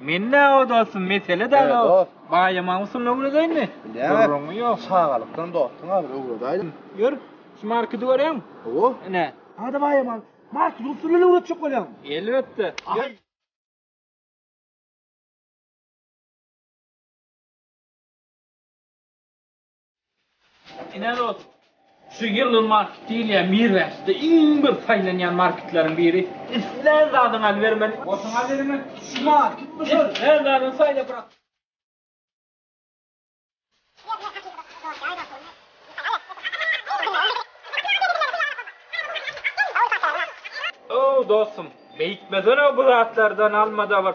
Men näme dostum, mesele däl o. Dost. Baýama usulyny öwredeýinmi? Gürrüňi ýok. Çagalykdan dostuň agyr öwredäýdim. Ýör, şu markedy görýäňmi? Hawa. Ine. Hada baýama, markedy usulyny öwretjek bolýaň. Elbetde. Ýör. Ine dos, şu ýylyň marketi diýilýän Mirwäşde iň bir saýlanýan marketleriň biri. Islän zadyňy alybermeli. Otuň alybermeli. Şu market bu şol. Islän zadyňy saýlap brak. Ow, dostum, beýtmesene bu zatlardan alma-da bir.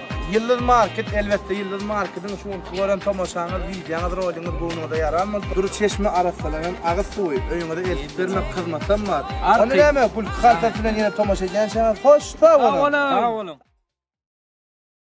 Ýyldyz market elbetde Ýyldyz markediň şu günki gören tomaşaňyz wideoňyz roliňiz göwnüňize ýaran bolsa dury çeşme arassalanan agyz suwy öýüňize eltip bermek hyzmatam bar ony näme gülki kaltasy bilen ýene tomaşa edýänçäňiz hoş sag boluň.